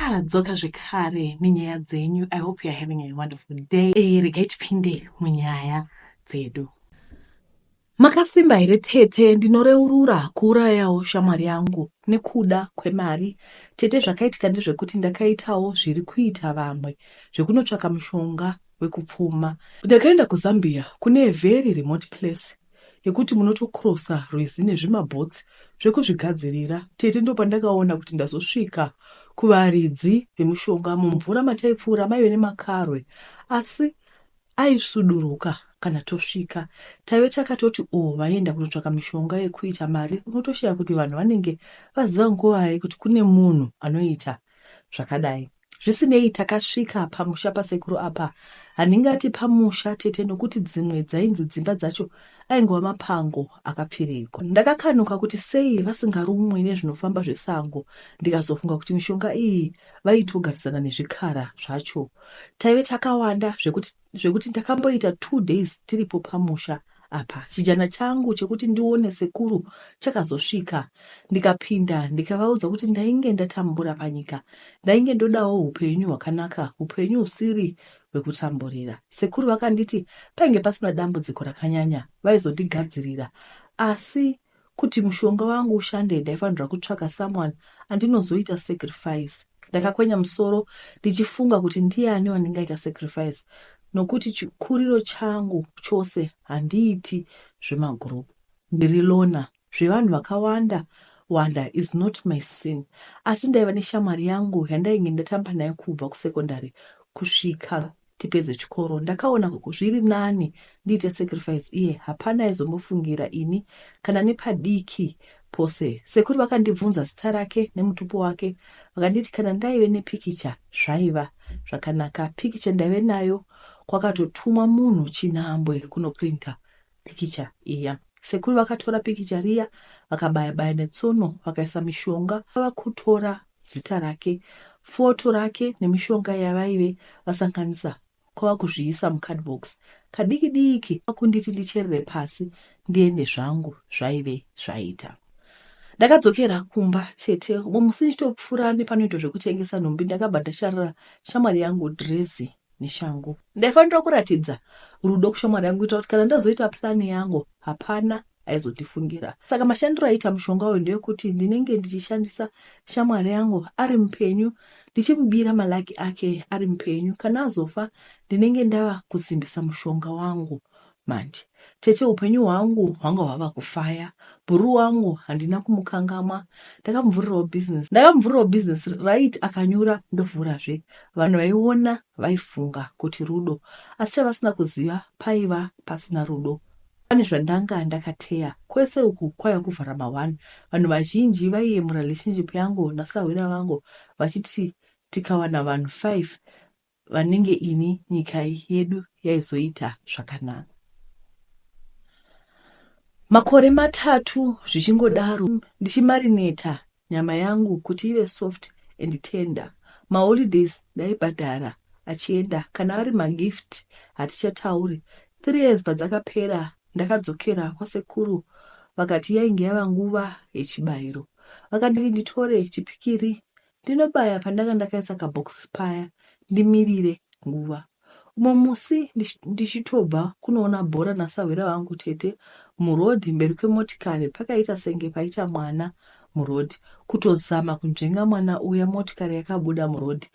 tadzoka zvekare nenyaya dzenyu i hope youare having a wonderful day e, regai tipinde munyaya dzedu makasimba here tete ndinoreurura kuurayawo shamwari yangu nekuda kwemari tete zvakaitika ndezvekuti ndakaitawo zviri kuita vamwe zvekunotsvaka mushonga wekupfuma ndakaenda kuzambia kune very remote place yekuti munotocrossa rwizi nezvimaboats zvekuzvigadzirira tete ndopandakaona kuti ndazosvika kuvaridzi vemushonga mumvura mataipfuura maive nemakarwe asi aisuduruka kana tosvika taive takatoti o oh, vaienda kunotsvaka mishonga yekuita mari unotoshaya kuti vanhu vanenge vaziva nguvai kuti kune munhu anoita zvakadai Zvisinei takasvika pamusha pasekuru apa handingati pamusha tete nokuti dzimwe dzainzi dzimba dzacho aingova mapango akapfirigwa. Ndakakanuka kuti sei vasingarumwe nezvinofamba zvesango ndikazofunga kuti mishonga iyi vaitogarisana nezvikara zvacho. Taive takawanda zvekuti zvekuti takamboita two days tiripo pamusha apa chijana changu chekuti ndione sekuru chakazosvika ndikapinda ndikavaudza kuti ndainge ndatambura panyika ndainge ndodawo upenyu hwakanaka upenyu usiri hwekutamburira sekuru vakanditi painge pasina dambudziko rakanyanya vaizondigadzirira asi Kuti mushonga wangu ushande ndaifanirwa kutsvaka someone andinozoita sacrifice. Ndakakwenya musoro ndichifunga kuti ndiani wandingaita sacrifice nokuti chikuriro changu chose handiiti zvemagroup. Ndiri loner, zvevanhu vakawanda wanda is not my sin asi ndaiva neshamwari yangu yandainge ndatamba nayo kubva kusecondary kusvika tipedze chikoro ndakaona zviri nani ndiite sacrifice iye hapana aizombofungira ini kana nepadiki pose sekuru vakandibvunza zita rake nemutupo wake vakanditi kana ndaive nepikicha zvaiva zvakanaka pikicha ndaive nayo kwakatotumwa munhu chinhambwe kunoprinta pikicha iya. Sekuru vakatora pikicha riya vakabaya baya netsono vakaisa mishonga vakutora zita rake foto rake nemishonga yavaive vasanganisa kwava kuzviisa mucardbox kadiki diki vakunditi ndicherere pasi ndiende zvangu zvaive zvaita ndakadzokera kumba chete umwe musi ndichitopfuura nepanoitwa zvekutengesa nhumbi ndakabva ndasharira shamwari yangu drezi neshangu. Ndaifanira kuratidza rudo kushamwari yangu kuitira kuti kana ndazoita purani yangu hapana aizotifungira. Saka mashandiro aiita mushonga uyu ndeyekuti ndinenge ndichishandisa shamwari yangu ari mupenyu ndichimubira malaki ake ari mupenyu. Kana azofa ndinenge ndava kusimbisa mushonga wangu Manje tete hupenyu hwangu hwanga hwava kufaya. Bhuruu wangu handina kumukangamwa. Ndakamuvhurirawo business. Ndakamuvhurirawo business right akanyura ndovhurazve. Vanhu vaiona vaifunga kuti rudo asi chavasina kuziva paiva pasina rudo. Pane zvandanga ndakateya. Kwese uku kwaiva kuvhara ma one. Vanhu vazhinji vaiye murelationship yangu nasahwira vangu vachiti tikawana vanhu five vanenge ini nyika yedu yaizoita zvakanaka makore matatu zvichingodaro ndichimarineta nyama yangu kuti ive soft and tender maholidays ndaibhadhara achienda kana ari magift hatichatauri three years padzakapera ndakadzokera kwasekuru vakati yainge yava nguva yechibayiro vakanditi nditore chipikiri Ndinobaya pandanga ndakaisa kabox paya ndimirire nguva. Umwe musi ndichitobva kunoona bhora nasahwira vangu tete muroad mberi kwemotikari pakaita senge paita mwana muroad kutozama kunzvenga mwana uya motikari yakabuda muroad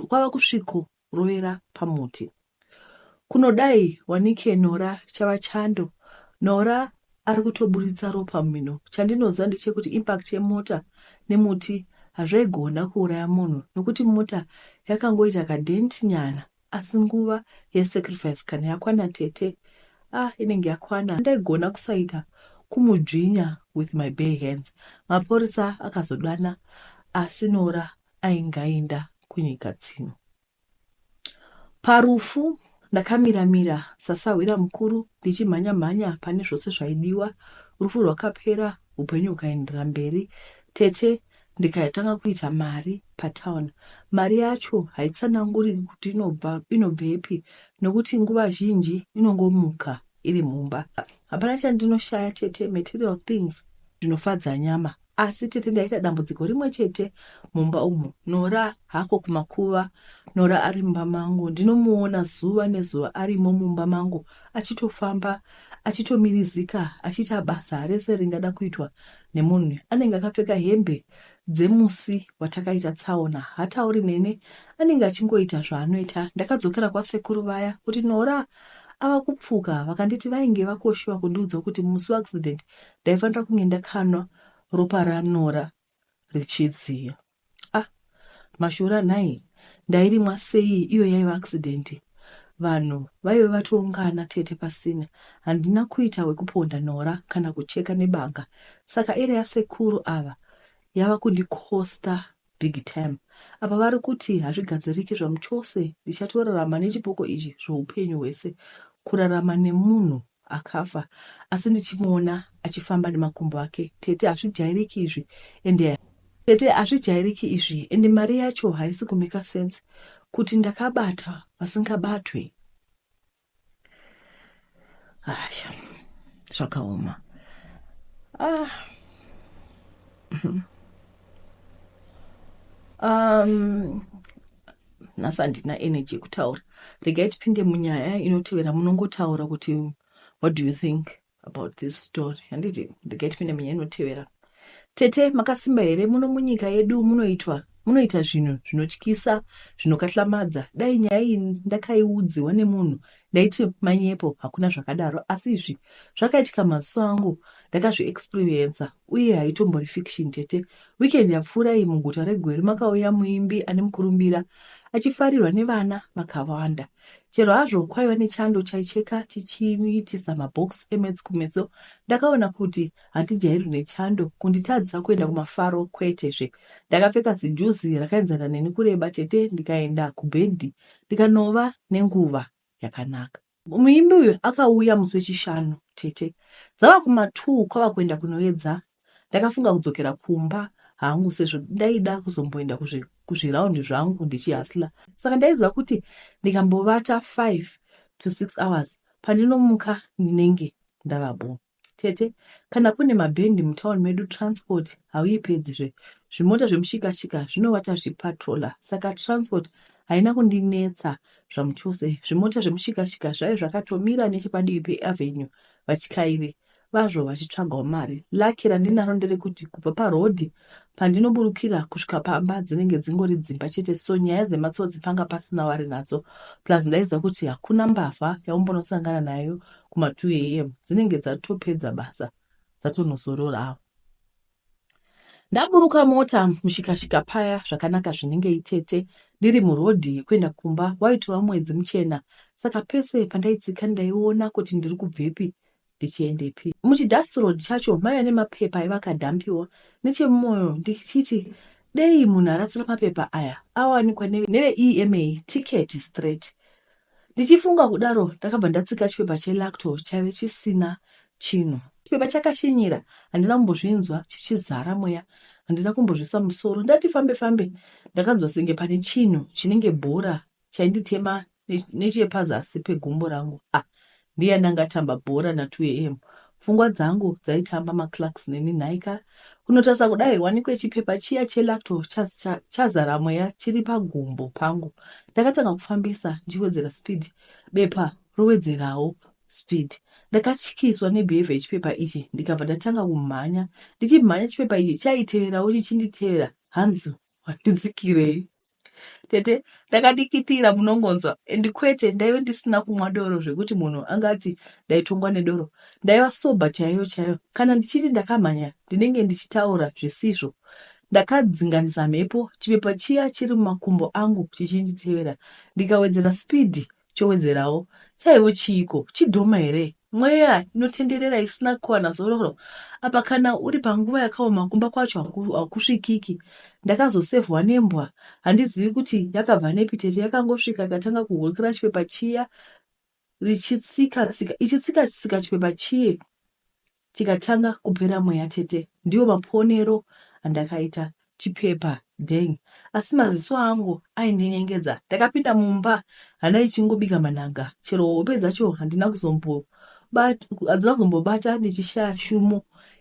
kwava kusviko rovera pamuti kunodai wanike Nora chava chando Nora ari kutoburitsa ropa mumhino chandinoziva ndechekuti impact yemota nemuti hazvaigona kuuraya munhu nokuti mota yakangoita kadent nyana asi nguva yesacrifice kana yakwana tete ah inenge yakwana ndaigona kusaita kumudzvinya with my bare hands mapurisa akazodana asi Nora ainge aenda kunyika dzino. Parufu ndakamira mira sasahwira mukuru ndichimhanya mhanya pane zvose zvaidiwa. Rufu rwakapera upenyu hukaenderera mberi. Tete ndikatanga kuita mari patown. Mari yacho haitsananguriki kuti inobva inobvepi nokuti nguva zhinji inongomuka iri mumba. Hapana chandinoshaya tete, material things zvinofadza nyama. Asi tete ndaita dambudziko rimwe chete mumba umu. Nora hako kumakuva. Nora ari mumba mangu ndinomuona zuva nezuva arimo mumba mangu achitofamba achitomirizika achiita basa rese ringada kuitwa nemunhu anenge akapfeka hembe dzemusi watakaita tsaona hatauri nene anenge achingoita zvaanoita ndakadzokera kwasekuru vaya kuti nora ava kupfuka vakanditi vainge vakoshiwa kundiudza kuti musi weaccident Ndaifanira kunge ndakanwa ropa raNora richidziya. Ah, mashura nhai, ndairimwa sei iyo yaiva accident. Vanhu vaive vatoungana tete pasina. Handina kuita wekuponda Nora kana kucheka nebanga. Saka area yasekuru ava yava kundikosta big tym apa vari kuti hazvigadziriki zvamuchose ndichatorarama nechipoko ichi zvoupenyu hwese kurarama nemunhu akafa asi ndichimuona achifamba nemakumbo ake tete hazvijairiki izvi ende tete hazvijairiki izvi ende mari yacho haisi kumeka sense kuti ndakabata vasingabatwe Aya, zvakaoma. Ah. Mhm. Um, nhasi handina energy yekutaura. Regai tipinde munyaya inotevera munongotaura kuti what do you think? about this story handiti ndigai tipinde munyaya inotevera tete makasimba here muno munyika yedu munoitwa munoita zvinhu zvinotyisa zvinokatlamadza dai nyaya iyi ndakaiudziwa nemunhu ndaiti manyepo hakuna zvakadaro asi izvi zvakaitika maziso angu ndakazviexperiensa uye haitombori fiction tete weekend yapfuura iyi muguta regweru makauya muimbi ane mukurumbira achifarirwa nevana vakawanda Chero hazvo kwaiva nechando chaicheka chichiitisa mabox emwedzi kumeso, ndakaona kuti handijairwi nechando kunditadzisa kuenda kumafaro kwete zve. Ndakapfeka zijuzi rakaenzana neni kureba tete ndikaenda kubhendi ndikanova nenguva yakanaka. Muimbi uyu akauya musi wechishanu tete dzava kuma two kwava kuenda kunoedza Ndakafunga kudzokera kumba hangu sezvo ndaida kuzomboenda kuzviraundi zvangu ndichihasla saka ndaiziva kuti ndikambovata 5 to 6 hours pandinomuka ndinenge ndava bo tete kana kune mabhendi mutown medu transport hauipedzizve zvimota zvemushikashika zvinovata zvipatrola saka transport haina kundinetsa zvamuchose zvimota zvemushikashika zvaive zvakatomira nechepadivi peavenue vachikairi vazvo vachitsvagawo mari. Lucky randinaro nderekuti kubva paroad pandinoburukira kusvika pamba dzinenge dzingori dzimba chete so nyaya dzematsotsi panga pasina wari nadzo plus ndaiziva kuti hakuna mbavha yaumbonosangana nayo kuma 2 am dzinenge dzatopedza basa dzatonozororawo. Ndaburuka mota mushikashika paya zvakanaka zvinenge itete ndiri murodhi yekuenda kumba waitova mwedzi muchena saka pese pandaitsika ndaiona kuti ndiri kubvepi ndichiendepi. Muchidust road chacho maive nemapepa aiva akadhampiwa nechemumoyo ndichiti dei munhu arasira mapepa aya awanikwa neveEMA ticket straight Ndichifunga kudaro ndakabva ndatsika chipepa chelacto chaive chisina chinhu. Chipepa chakashinyira handina kumbozvinzwa chichizara mweya handina kumbozvisa musoro ndati fambe fambe ndakanzwa senge pane chinhu chinenge bhora chainditema nechepazasi pegumbo rangu ah Ndiani anga atamba bhora na 2am pfungwa dzangu dzaitamba ma clerks neni nhaika kunotarisa kudai wanikwe chipepa chiya che lacto chazara mweya chiri pagumbo pangu ndakatanga kufambisa ndichiwedzera speed bepa rowedzerawo speed ndakatyiswa ne behavior yechipepa ichi ndikabva ndatanga kumhanya ndichimhanya chipepa ichi chaiteverawo chichinditevera hanzi wandidzikirei tete ndakadikitira munongonzwa and kwete ndaive ndisina kumwa doro zvekuti munhu angati ndaitongwa nedoro ndaiva soba chaiyo chaiyo kana ndichiti ndakamhanya ndinenge ndichitaura zvisizvo ndakadzinganisa mhepo chipepa chiya chiri mumakumbo angu chichinditevera ndikawedzera spidi Chowedzerawo chaiwo chiiko? Chidhoma here? Mweya inotenderera isina kuwana zororo apa kana uri panguva yakaoma kumba kwacho haku- hakusvikiki. Ndakazosevhwa nembwa handizivi kuti yakabva nepi tete yakangosvika ikatanga kuhurukira chipepa chiya richitsika tsika ichitsika tsika chipepa chiye Chikatanga kupera mweya tete ndiwo maponero andakaita chipepa dang asi maziso angu aindinyengedza ndakapinda mumba hana ichingobika manhanga chero hope dzacho handina kuzombobata hadzina kuzombobata ndichishaya shumo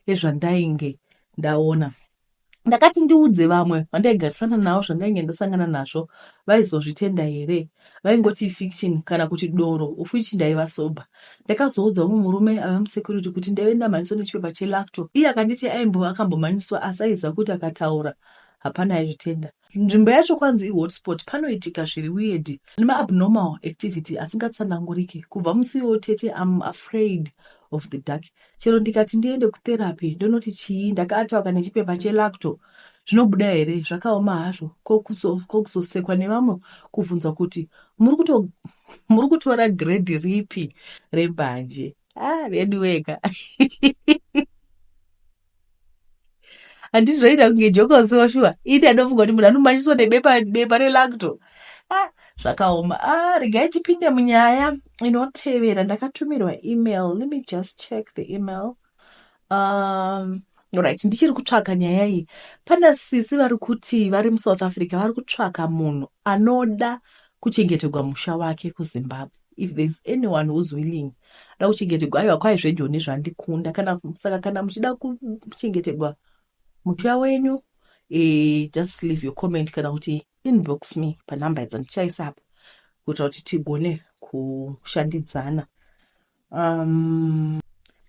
yezvandainge ndaona ndakati ndiudze vamwe vandaigarisana navo zvandainge ndasangana nazvo vaizozvitenda here vaingoti ifiction kana kuti doro ufichi ndaiva sober ndakazoudza mumwe murume ave musecurity kuti ndaive ndamhanyiswa nechipepa chelacto iye akanditi aimbo akambomhanyiswa asi aiziva kuti akataura hapana aizvitenda Nzvimbo yacho kwanzi ihotspot panoitika zviri weird nema abnormal activity asingatsananguriki kubva musiwo tete am afraid of the dark chero ndikati ndiende kutherapy ndonoti chii ndakaatawaka nechipepa chelacto zvinobuda here zvakaoma hazvo kokuzosekwa nevamwe kubvunzwa kuti muri kutora grade ripi rembanje ah veduweka handiti zvoita kunge jokoso shuwa ini anofunga kuti munhu anomanyiswa nebepa bepa relacto ah, zvakaoma ah, regai tipinde munyaya inotevera ndakatumirwa email let me just check the email um, right ndichiri kutsvaka nyaya iyi pana sisi vari kuti vari musouth africa vari kutsvaka munhu anoda kuchengetegwa musha wake kuzimbabwe if there's anyone who's willing da kuchengetegwa aiwa kwai zvejoni zvandikunda kana saka kana muchida kuchengetegwa mutya wenyu e, just leave your comment kana kuti inbox me panumber dzandichaisa apa kuitira kuti tigone kushandidzana um,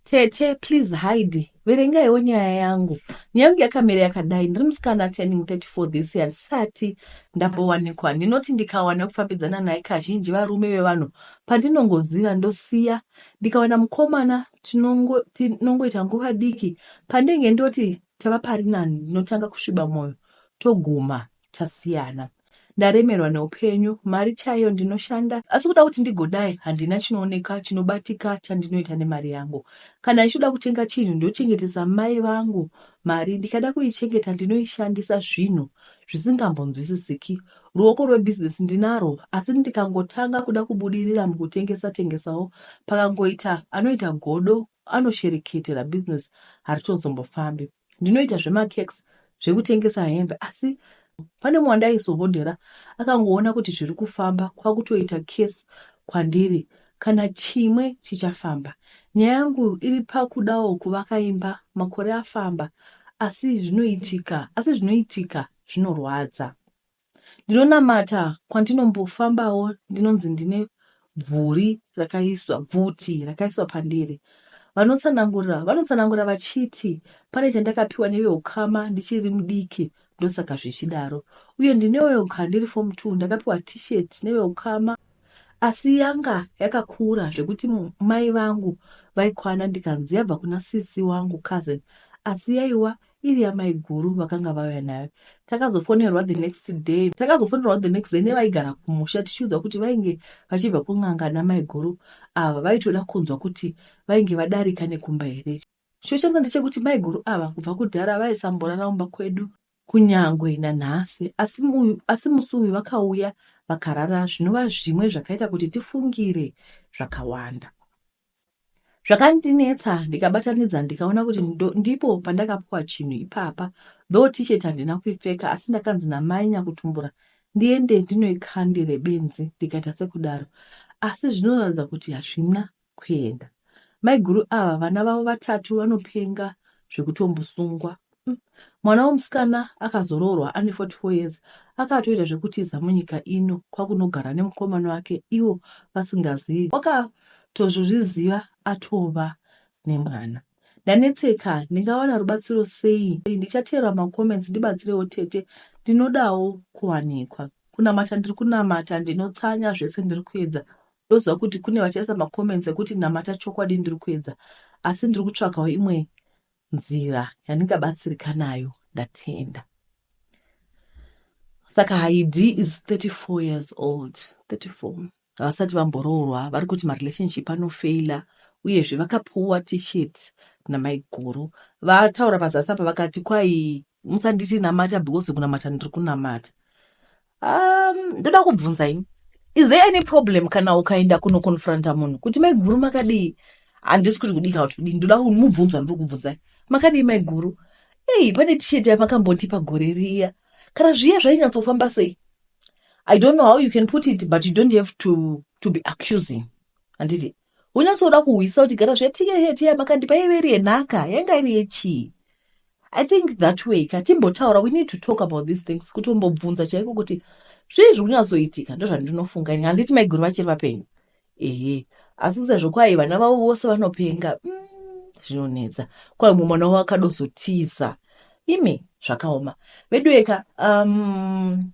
Tete please hide verengaiwo nyaya yangu nyaya yangu yakamira yakadai ndiri musikana turning 34 this year ndisati ndambowanikwa ndinoti ndikawana kufambidzana naye kazhinji varume vevanhu pandinongoziva ndosiya ndikawana mukomana tinongoita nguva diki pandenge ndoti tava pari nani ndinotanga kusviba mwoyo toguma tasiyana ndaremerwa neupenyu mari chaiyo ndinoshanda asi kuda kuti ndigodai handina chinooneka chinobatika chandinoita nemari yangu kana ichida kutenga chinhu ndochengetesa mai vangu mari ndikada kuichengeta ndinoishandisa zvinhu zvisingambonzwisisiki ruoko rwebhizinesi ndinaro asi ndikangotanga kuda kubudirira mukutengesa tengesawo pakangoita anoita godo anoshereketera bhizinesi haritozombofambi Ndinoita zvemacakes zvekutengesa hembe asi pane mumwe wandaizohodhera akangoona kuti zviri kufamba kwakutoita case kwandiri kana chimwe chichafamba. Nyaya yangu iri pakudawo kuvaka imba makore afamba asi zvinoitika asi zvinoitika zvinorwadza. Ndinonamata kwandinombofambawo ndinonzi ndine bvuri rakaiswa bvuti rakaiswa pandiri. Vanotsanangura vanotsanangura vachiti pane chandakapiwa neveukama ndichiri mudiki ndosaka zvichidaro uye ndinewo kandiri form 2 ndakapiwa t-shirt neveukama asi yanga yakakura zvekuti mai vangu vaikwana ndikanzi yabva kuna sisi wangu cousin asi yaiwa iri yamaiguru vakanga vauya nayo takazofonerwa the next day takazofonerwa the next day nevaigara kumusha tichiudzwa kuti vainge vachibva kun'anga namaiguru ava vaitoda kunzwa kuti vainge vadarika nekumba here chochanga ndechekuti maiguru ava kubva kudhara vaisamborara umba kwedu kunyangwe nanhasi asi uyu asi musi uyu vakauya vakarara zvinova zvimwe zvakaita kuti tifungire zvakawanda zvakandinetsa ndikabatanidza ndikaona kuti ndipo pandakapuwa chinhu ipapa do tishet handina kuipfeka asi ndakanzi namai nyakutumbura ndiende ndinoikandire benzi ndikaita sekudaro asi zvinoratidza kuti hazvina kuenda maiguru ava vana vavo vatatu vanopenga zvekutombosungwa Umm mwana wemusikana akazoroorwa ane 44 years akatoita zvekutiza munyika ino kwakunogara nemukomana wake ivo vasingazivi wakatozozviziva atova nemwana ndanetseka ndingawana rubatsiro sei ndichateerwa macomments ndibatsirewo tete ndinodawo kuwanikwa kunamata ndiri kunamata ndinotsanya zvese ndiri kuedza ndoziva kuti kune vachaisa macomments ekuti namata chokwadi ndiri kuedza asi ndiri kutsvakawo imwe nzira yandingabatsirika nayo ndatenda saka haid is 34 years old 34 havasati vamboroorwa vari kuti marelationship anofeila uyezve vakapuwa t-shirt namaiguru vataura pazasi apa vakati kwai musanditi namata because kunamata ndiri kunamata um, ndoda kubvunza ini is there any problem kana ukaenda kunoconfronta munhu kuti maiguru makadii handisi kuti kudii kana kuti kudii ndoda mubvunzo wandiri kubvunzai makadii maiguru ei pane tisheti yavakambondipa gore riya kana zviya zvainyatsofamba sei i don't know how you can put it but you don't have to, to be accusing handiti wonyatsoda kuhwisa kuti gara zvetiyeyeti yamakandipa yaive iri yenhaka yanga iri yechii i think that way ka timbotaura we need to talk about these things kuti umbobvunza chaiko kuti zvii zviri kunyatsoitika ndozvandinofunga ini handiti maiguru vachiri vapenyu ehe asi sezvo kwai vana vavo vose vanopenga mm, zvinonetsa mm, kwai umwe mwana wavo akadozotiza imi zvakaoma vedueka um,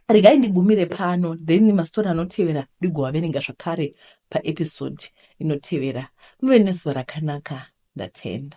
regai ndigumire pano then mastori anotevera ndigovaverenga zvakare paepisode inotevera muve nezuva rakanaka ndatenda